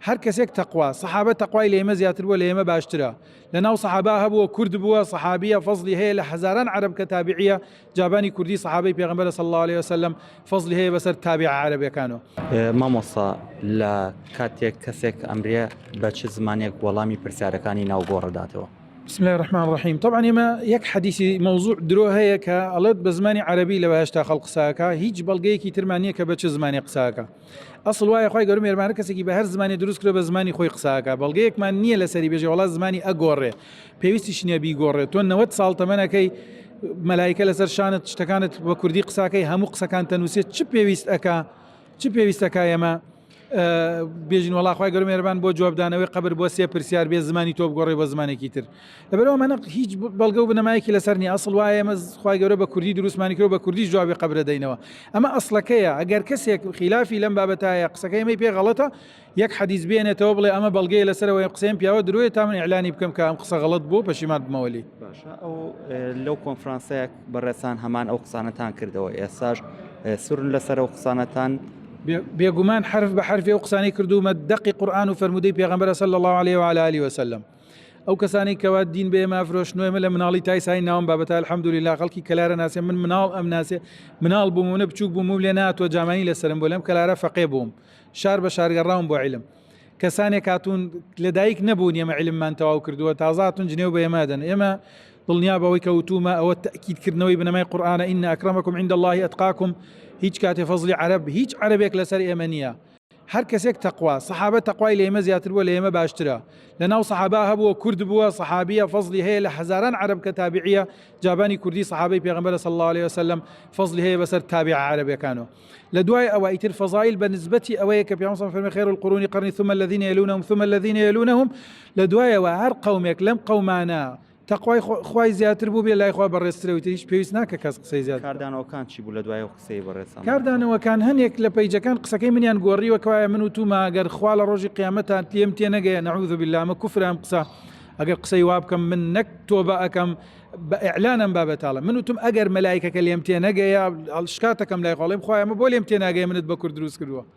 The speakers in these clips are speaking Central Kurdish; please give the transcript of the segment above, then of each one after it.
هەر کەسێک تەقوا سەحابە تەقوای لە ئێمە زیاتر بووە لە ئێمە باشترە لە ناو سەحابا هەبووە کورد بووە سەحابیە فەزلی هەیە لە هەزاران عرب کە تابعە جابانی کوردی سەحابەی پێغمبەر صلی الله عليه وسلم فەزلی هەیە بەسەر تابع عربەکانەوە مامۆسا لە کاتێک کەسێک ئەمرە بە چ زمانێک وەڵامی پرسیارەکانی ناو گۆڕداتەوە بسم الله الرحمن الرحیم طبعا ئێمە یەک حەدیسی مەوزوع درۆ هەیە کە ئەڵێت بە زمانی عربی لە بەهشتا خەڵ قساکە هیچ بەڵگەیەکی ترمانە کە بە چ زمانی قساکە ئەسڵ وایە خوای گەورە مێرمانە کەسێکی بە هەر زمانی دروست کرێ بە زمانی خۆی قساکە بەڵگەیەکمان نییە لەسەری بێژێ وڵات زمانی ئەگۆڕێ پێویستیش نییە بیگۆڕێت تۆ 90 ساڵ تەمەەکەی مەلایکە لەسەر شانت شتەکانت بە کوردی قساکەی هەموو قسەکان تەنووسێت چ پێویست ئەک چ پێویستەکە ئێمە بێژین وڵاخوای گەرم مێربان بۆ جوابدانەوەی قبر بۆ سێ پرسیار بێ زمانی تۆ بگۆڕی بە زمانێکی تر لەبەرەوە منە هیچ بەڵگە و بنەمایەکی لەسەر نیە ئەسڵ وایە ئێمە خوای گەورە بە کوردی دروستمانی کرد و بە کوردی جوابی قبرە دەینەوە ئەمە ئەسڵەکەیە ئەگەر کەسێک خلافی لەم بابەتایە قسەکەی ئەمەی پێ غەڵەتە یەک حەدیث بێنێتەوە بڵێ ئەمە بەڵگەیە لەسەرەوەی قسەم پیاوە درۆیە تا من ئەلانی بکەم کە ئەم قسە غەڵت بوو پەشیمان بمەوەلی باشە ئەو لەو کۆنفرانسەیە بەڕێسان هەمان ئەو قسانەتان کردەوە ئێساش سورن لەسەر ئەو قسانەتان بێگومان حرف بە حرفێ و قسانی کردومە دەقی قورآان و فرەرمودەی پێغمبەرە سەل الله عليه وعلى علی وسلم ئەو کەسانی کەوا دین بێ مافرۆش نوێ لە مناڵی تای سای ناوم بابەت الحمدلی لا خەڵکی کەلارە ناسێ من مناڵ ئەم ناسێ مناڵ بوومونە بچوک بووم لێ ناتۆ جامانی لەسرم بۆ لەم کەلارە فەقێ بووم شار بە شارگەڕاوم بۆ علم کەسانێک هاتوون لەدایک نەبوون ئێمە علممان تەواو کردووە تازاتون جنێو بە ئێمەدەن ئێمە دڵنیا بەوەی کەوتومە ئەوە تاکیدکردنەوەی بنەمای قورآانە ئینە ئەکرمەکم عند الله ئەتقاکم هیچ کاتێ فەزلی عرب هیچ عربێک لەسەر ئێمە نییە هەر کەسێک تەقوا سەحابە تەقوای لە ئێمە زیاتر بووە لە ئێمە باشترە لە ناو سەحابا هەبووە کورد بووە سەحابیە فەزلی هەیە لە هەزاران عرب کە تابعیە جابانی کوردی سەحابەی پێغمبەر صلی الله عليه وسلم فەزلی هەیە بەسەر تابع عربەکانەوە لە دوای ئەوە ئیتر فەزایل بە نسبەتی ئەوەیە کە پیامسان فەرمی خێر القرونی قرنی ثم الذين يلونهم ثم الذين يلونهم لە دوایەوە هەر قومێک لەم قومانە تەقوای خوای زیاتر بوو بێ لای خوا بەڕێزترەوتە هیچ پێویست ناکە کەس قسەی زیاد کاردانەوەکان چی بوو لە دوای قسەی بەڕێز کاردانەوەکان هەنێک لە پیجەکان قسەکەی منیان گۆڕیوە کەوایە من و توما ئەگەر خوا لە ڕۆژی قیامەتان تێم تێ نەگەیە نەعوذ باللامە کوفرام قسە ئەگەر قسەی وا بکەم من نەک تۆبە ئەەکەم بە ئەعلانم بابەتاڵە من وتم ئەگەر مەلایکەکە لێم تێ نەگەیە شکاتەکەم لای خۆڵێم خخوایمە بۆ لێم تێناگەی منت بە کورد دروست کردووە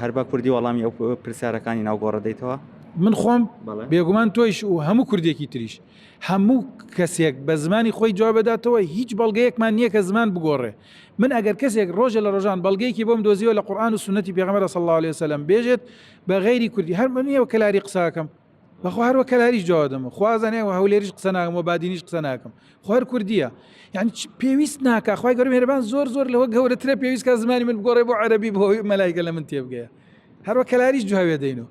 هەر بە کوردی وەڵامی ئەو پرسیارەکانی ناو گۆڕە دەیتەوە من خۆم بێگومان تۆیش و هەموو کوردێکی تریش هەموو کەسێک بە زمانی خۆی جواب بداتەوە هیچ بەڵگەیەکمان نییە کە زمان بگۆڕێ من ئەگەر کەسێک ڕۆژە لە ڕۆژان بەڵگەیەکی بۆم دۆزیوە لە قورآان و سنەتی پێغمەرە سەڵاو لێ سەلم بێژێت بە غیری کوردی هەر منیەوە کەلاری قساکەم بەخوا هەروە کەلاریش جواب دەمە خوازانێ و هەولێریش قسە ناکەم و بادینیش قسە ناکەم خوار کوردیە یعنی پێویست ناکە خخوای گەرم هێربان زۆر زۆر لەوە گەورەترە پێویستکە زمانی من گۆڕێ بۆ عەربی بۆ مەلایگە لە من تێبگەیە هەروە کەلاریش جوابێ دەینەوە